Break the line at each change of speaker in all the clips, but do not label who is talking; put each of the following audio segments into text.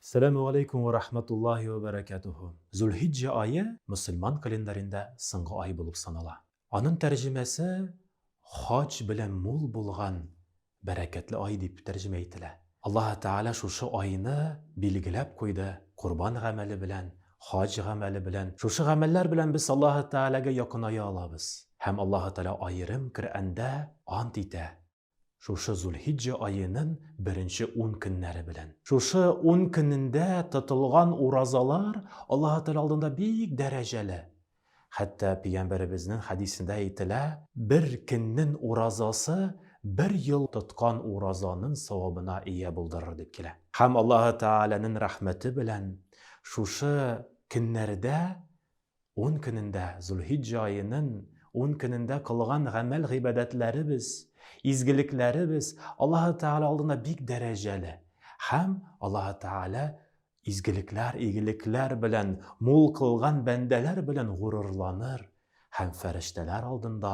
Сәләмү галәйкүм вә рахматуллаһи вә бәрәкәтүһү. Зулхиҗҗә ае мөселман календарендә соңгы ай булып санала. Аның тәрҗемәсе хаҗ белән мул булган бәрәкәтле ай дип тәрҗемә ителә. Аллаһы Тәгалә шушы айны билгеләп куйды, корбан гамәле белән, хаҗ гамәле белән. Шушы гамәлләр белән без Аллаһы Тәгаләгә якыная алабыз. Һәм Аллаһы Тәгалә аерым Коръәндә ант итә. Шушы Зулхиҗҗә аенын беренче ун көннәре белән. Шушы ун көнендә тотылган уразалар Аллаһы Тәгалә алдында бик дәрәҗәле. Хәтта Пигамбәребезнен хәдисендә әйтелә, бер көннен уразасы бер ел тоткан уразанын савабына ия булдырыр дип килә. Һәм Аллаһы Тәгаләнен рәхмәте белән шушы көннәрдә Ун көнендә, Зулхиҗҗә аеның ун көнендә кылган гамәл-гыйбадәтләребез, изгелекләребез Аллаһы Тәгалә алдында бик дәрәҗәле. Һәм Аллаһы Тәгалә изгелекләр, игелекләр белән мул кылган бәндәләр белән горурланыр һәм фәрештәләр алдында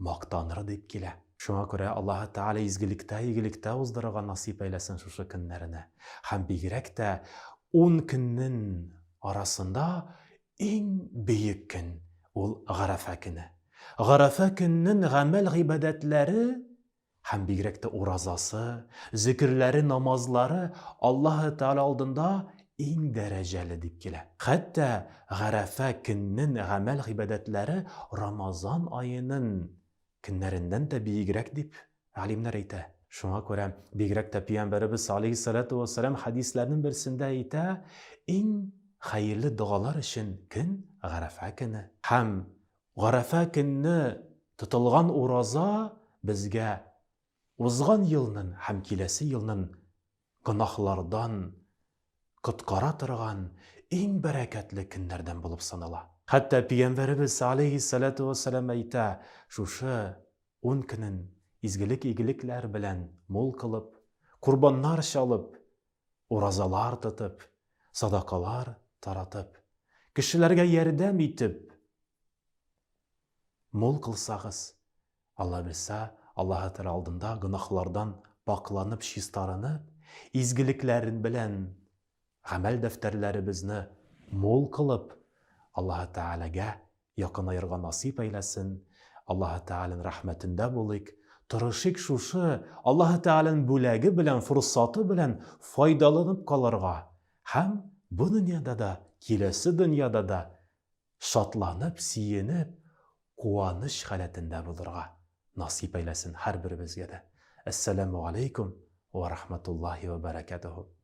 мактаныры дип килә. Шуңа күрә Аллаһы Тәгалә изгелектә, игелектә уздырырга насыйп әйләсен шушы көннәрне. Һәм бигрәк тә ун көннен арасында иң бөек көн, ул Гарәфә көне. Гарәфә көннен гамәл-гыйбадәтләре Һәм бигрәк тә уразасы, зөкерләре, намазлары Аллаһы Тәгалә алдында иң дәрәҗәле дип килә. Хәтта Гарәфә көннен гамәл-гыйбадәтләре Рамазан аенын көннәреннән дә биегрәк дип галимнәр әйтә. Шуңа күрә бигрәк тә Пиямбәребез алейһиссәләтү вәссәлам хәдисләренең берсендә әйтә, Иң хәерле догалар өчен көн, Гарәфә көне. Һәм Гарәфә көнне тотылган ураза безгә узган елнын һәм киләсе елнын гөнаһлардан коткара торган иң бәрәкәтле көннәрдән булып санала. Хәтта пигәмбәребез, алейһиссәләтү вәссәлам, әйтә, Шушы ун көнен изгелек-игелекләр белән мул кылып, корбаннар чалып, Уразалар тотып, садакалар таратып, кешеләргә ярдәм итеп мул кылсагыз, Алла Гыйса, Аллаһы Тәгалә алдында гөнаһлардан пакъланып, чистарынып, изгелекләрен белән гамәл дәфтәрләребезне мул кылып, Аллаһы Тәгаләгә Якынаерга насыйп әйләсен, Аллаһы Тәгаләнең рәхмәтендә булыйк, тырышыйк шушы Аллаһы Тәгаләнең бүләге белән, форсаты белән файдаланып калырга һәм бу дөньяда да, киләсе дөньяда да шатланып, сөенеп, куаныч халәтендә булырга насыйп әйләсен һәрберебезгә дә. Әссәләмү галәйкүм вә рахмәтуллаһи вә бәрәкәтүһү.